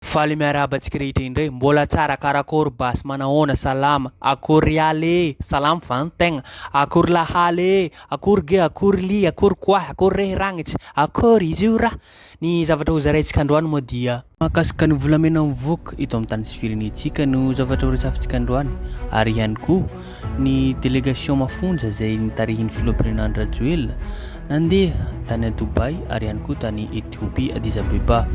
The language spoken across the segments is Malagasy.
Faly miarahaba antsika rehetra indray. Mbola tsara karakôry basy manahoana salama akory ialy ee salama va ny tegna akory lahaly ee akory ge akory lia akory koahy akory rehy ragnitsa akory izy io ra ny zavatra ho zaraintsika androany moa dia mahakasika ny volamena mivoaka eto amin'ny tany sy firenentsika no zavatra ho resafintsika androany ary ihany koa. Ny delegasion mafonja izay nitarihin'ny filoham-pirenena Andry Rajoelina nandeha tany Dubai ary ihany koa tany Ethiopia Addis Abeba.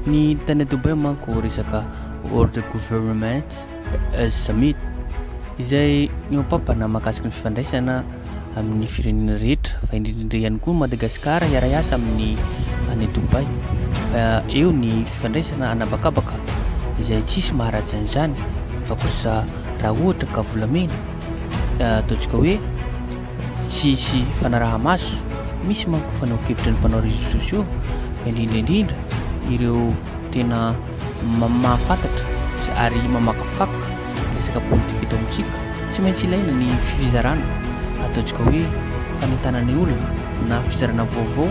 Ny tany Dubai manko resaka World Government Summit izay nihoam-pampana mahakasika ny fifandraisana amin'ny firenena rehetra fa indrindrindra ihany koa Madagasikara hiara-hiasa amin'ny any Dubai fa eo ny fifandraisana anabakabaka izay tsisy maharatsy an'izany fa kosa raha ohatra ka volamena eh, ataontsika hoe tsisy fanaraha-maso misy manko fanao kevitra ny mpanao réseaux sociaux fa indrindra indrindra ireo tena mahafantatra ary mamakafaka resaka politika eto amintsika, tsy maintsy ilaina ny fizarana ataontsika hoe fanentanana ny olona na fizarana vaovao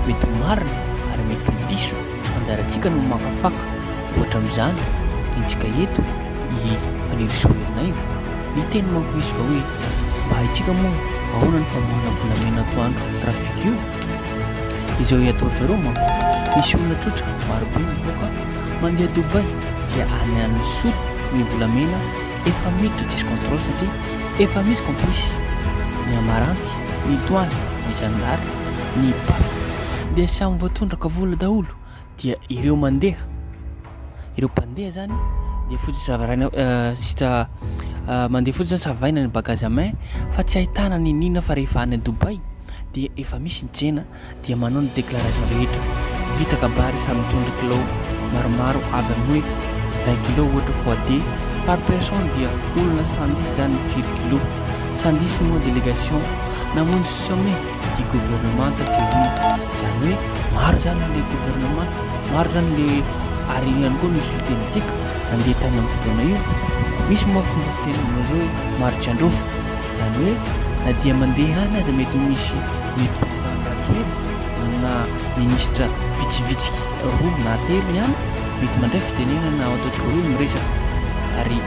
mety ho marina ary mety ho diso, fa anjarantsika no makafaka, ohatra amin'izany rentsika eto i Fanirisoa Ernaivo, ny teny manko izy fa hoe mba haintsika moa ahoana ny famonoana volamena antoandro trafic io? izao iatory zareo manko misy olona trotra marobe mivoaka Mandeha Dubai dia any any Sud ny volamena efa miditra tsisy contrôle satria efa misy complice ny amaranty, ny douane, ny zandary, ny paf dia samy voatondraka vola daholo dia ireo mandeha ireo mpandeha zany dia fotsiny savaraina juste mandeha fotsiny zany savaina ny bagage à main fa tsy ahitana ny nina fa rehefa any Dubai dia efa misy ny tsena dia manao ny déclaration rehetra vita kabary samy mitondra kilao maromaro avy amin'ny hoe vingt kilos ohatra foide par personne dia olona cent dix izany ny firy kilos cent dix moa délégation namonjy sommet du gouvernement teo iny izany hoe maro izany ilay gouvernement maro izany ilay ary io ihany koa no solontenantsika nandeha tany amin'ny fotoana io misy moa fomba fiteny amin'izao hoe maro tsy handrofa Izany hoe na dia mandeha any aza mety ho misy mety président Rajoelina amina ministra vitsivitsiky roa na telo ihany mety mandray fitenenana ao ataontsika hoe miresaka ary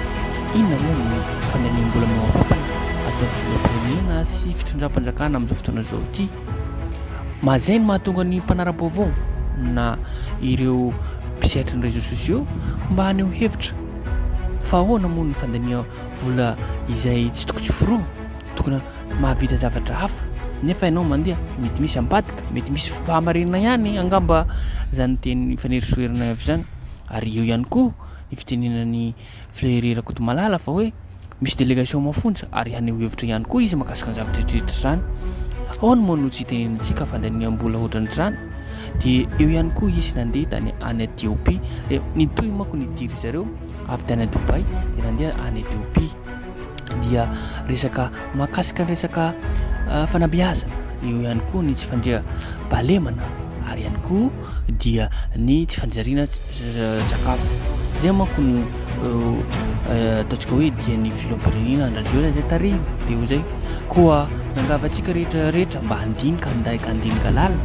inona moa no fandaniam-bola maoapapana ataon'ny filoham-pirenena sy fitondram-panjakana amin'izao fotoana izao ity. Mahazay ny mahatonga ny mpanara-baovao na ireo mpisehatry ny réseaux sociaux mba haneho hevitra fa ahoana moa ny fandaniam Vola izay tsy tokony hoforomo, tokony mahavita zavatra hafa nefa ianao mandeha, mety misy ambadika, mety misy fahamarinana ihany angamba izany teny fanirisoherina avy izany. Ary eo ihany koa ny fitenenan'i Flery Rakotomalala fa hoe misy délégation mafonja ary haneho hevitra ihany koa izy mahakasika ny zavatra rehetra izany. Ahoana moa no tsy hitenenantsika fandaniam-bola ohatran'izany? Dia eo ihany koa izy nandeha tany any Etiopia, dia nitohy manko ny diry zareo. avy tany Dubaï dia nandeha any Ethiopie dia resaka mahakasika ny resaka ah, fanabeazana eo ihany koa ny tsy fandria balemana ary ihany koa dia ny tsy fanjariana sakafo zay manko no eh, eh, ataontsika hoe dia ny filohampirenena andrajoela zay tarihina dia ho zay koa nangava antsika rehetra rehetra mba handinika handaika handinika lala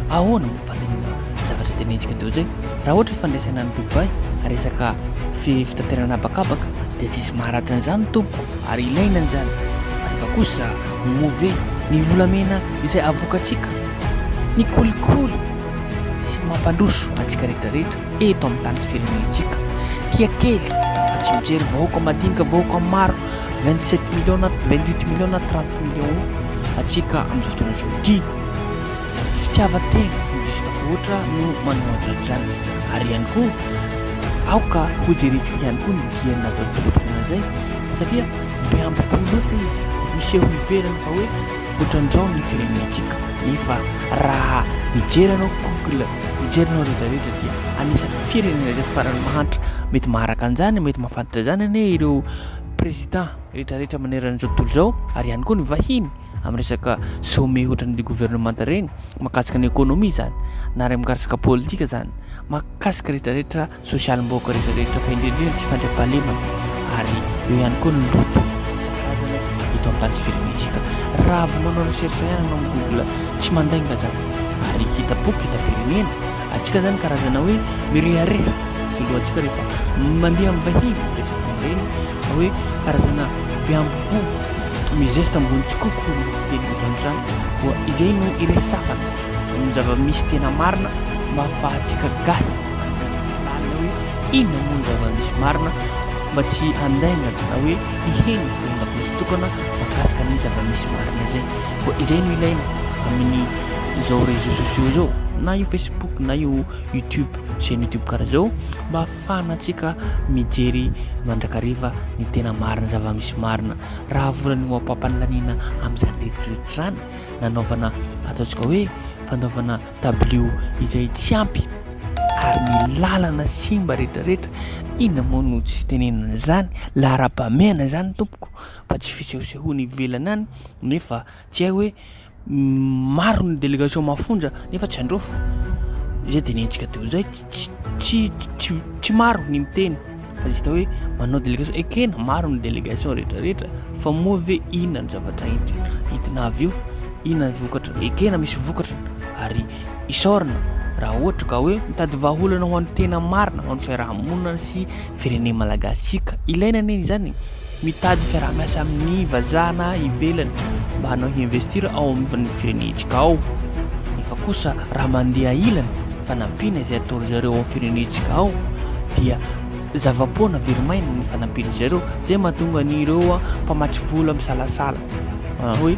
ahoana Fandaminana zavatra tena hetsika doza e. Raha ohatra fandraisana any Dubaï resaka fi- fitaterana habakabaka dia tsy hisy maharatra an'izany tompoko ary ilaina an'izany. Fa rehefa kosa move ny volamena izay avokantsika, ny kolikoly sy ny mampandroso antsika rehetrarehetra eto amin'ny tany sy firenentsika. Tia kely fa tsy mijery vahoaka madinika, vahoaka maro 27 millions na 28 millions na 30 millions antsika amin'izao fotoana izao ity. fitiavan-tena no diso tafahoatra no manao an'izany izany. Ary ihany koa, aoka hojerentsika ihany koa ny dieny nataon'ny filoham-pirenena izay, satria be ambipo loatra izy, miseho ivelany fa hoe hotrandrao ny firenentsika. Nefa raha mijery anao Google, mijery anao rehetra rehetra dia anisan'ny firenena izay farany mahantra. Mety maharaka an'izany, mety mahafantatra izany anie ireo président rehetra rehetra manerana izao tontolo izao, ary ihany koa ny vahiny. amin'ny resaka sommet ohatran'ny le gouvernemanta reny makasika ny ekonomia zany na re mikarsaka politika zany makasika retraretra sosialy mboka retraretra fa indrindriny tsy fandriampahalemana ary eo ihany koa ny loto sakarazany eto amin'ny tany sy firenentsika raha vao manao recherche ihany anao amin'ny google tsy mandainga zany ary hita boky hita firenena atsika zany karazana hoe mirehareha filohantsika rehefa mandeha amin'ny vahiny resaka reny hoe karazana beamboho mizesta ambony tsikoko ny fiteny vazon zany koa izay no iresafana ny zava-misy tena marina mba hahafahantsika gahy lalina hoe inona moa ny zava-misy marina mba tsy handaingana na hoe hiheno fomban-dakozy tokana mahakasika ny zava-misy marina izay koa izay no ilaina amin'ny izao réseaux sociaux izao na io facebook na io youtube chaîne youtube karaha zao mba fahanantsika mijery mandrakariva ny tena marina, zava-misy marina. Raha volana io ampam-panalaniana amin'izany rehetrarehetra izany, nanaovana ataontsika hoe fanaovana dabilio izay tsy ampy ary ny lalana simba rehetrarehetra, inona moa no tsy tenenana izany? Laharam-pahamehana izany tompoko fa tsy fisehosehoana ivelany any nefa tsy hay hoe maro ny délégation mafonja nefa tsy handrofo izay dinentsika teo izay tsy maro ny miteny fa izy tao hoe manao délégation ekena maro ny délégation rehetrarehetra fa moa ve inona ny zavatra entina entina avy eo inona ny vokatra ekena misy vokatra ary isaorana raha ohatra ka hoe mitady vahaolana ho an'ny tena marina ho an'ny fiarahamonina sy firenena malagasy tsika ilaina anie izany mitady fiaraha-miasa amin'ny vazaha na ivelany mba hanao investir ao amin'ny firenentsika ao efa kosa raha mandeha ilany fanampiana izay atao ry zareo ao firenentsika ao dia zava-poana verimaina ny fanampiana izay ireo zay mahatonga ny ireo mpamatsy vola misalasala hoe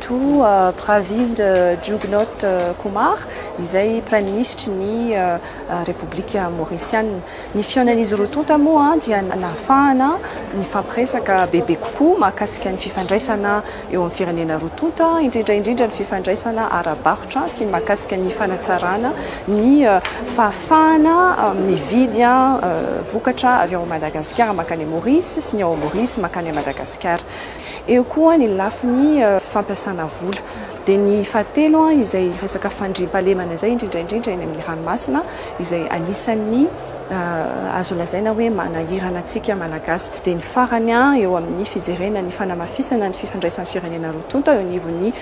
toa Pravind Jugnot Kumar, izay Praiminisitry ny Repoblika Maorisiana. Ny fihaonan'izy roa tonta moa dia nahafahana nifampiresaka bebe kokoa mahakasika ny fifandraisana eo amin'ny firenena roa tonta, indrindra indrindra ny fifandraisana ara-barotra sy ny mahakasika ny fanatsarana ny fahafahana mividy vokatra avy ao Madagasikara mankany Maorisy sy ny ao Maorisy mankany Madagasikara. Eo koa ny lafiny fampiasana vola. Dia ny fahatelo, izay resaka fandriampahalemana izay, indrindra indrindra eny amin'ny ranomasina, izay anisan'ny azo lazaina hoe manahirana antsika Malagasy. Dia ny farany, eo amin'ny fijerena ny fanamafisana ny fifandraisan'ny firenena roa tonta eo anivon'ny.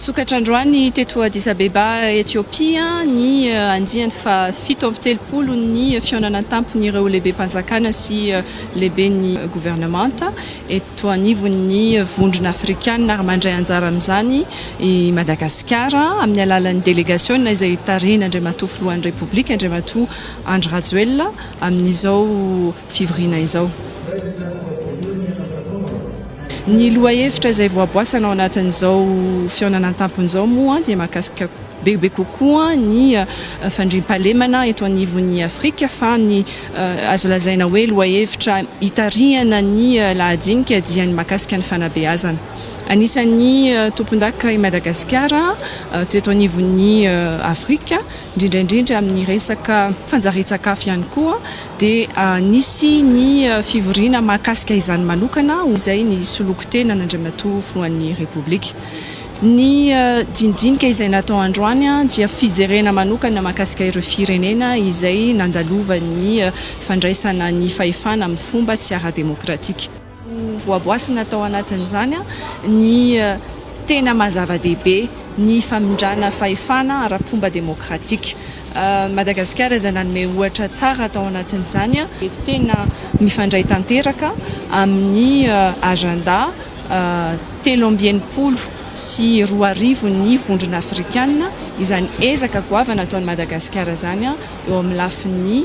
Nisokatra androany teto Addis Abeba, Etiopia, ny eh, andiany fahafito amby telopolo ny fihaonana an-tampon'ireo lehibem-panjakana sy eh, lehiben'ny governemanta eto anivon'ny vondrona afrikanina ary mandray anjara amin'izany i Madagasikara amin'ny alalan'ny delegasiona izay tarihin'Andriamatoa Filohan'ny Repoblika, Andriamatoa Andry Rajoelina amin'izao fivoriana izao. Ny lohahevitra izay voaboasana ao anatin'izao fihaonana an-tampony izao moa dia mahakasika bebe kokoa ny fandriampahalemana eto anivon'ny Afrika fa ny azo lazaina hoe lohahevitra hitarihana ny lahadinika dia ny mahakasika ny fanabeazana. Anisan'ny tompondaka i Madagasikara teto anivon'ny Afrika, indrindra indrindra amin'ny resaka fanjarian-tsakafo ihany koa. dia nisy ny fivoriana mahakasika izany manokana ho izay ny solon-kitena an'Andriamatoa Filohan'ny Repoblika. Ny dinidinika izay natao androany dia fijerena manokana mahakasika ireo firenena izay nandalovan'ny fandraisana ny fahefana amin'ny fomba tsy ara-demokratika. Ho voaboasina tao anatin'izany ny tena maha zava-dehibe ny famindrana fahefana ara-pomba demokratika. Madagasikara izay nanome ohatra tsara tao anatin'izany dia tena mifandray tanteraka amin'ny agenda telo amby enimpolo sy roa arivo ny Vondrona Afrikana izany ezaka goavana ataon'i Madagasikara izany eo amin'ny lafiny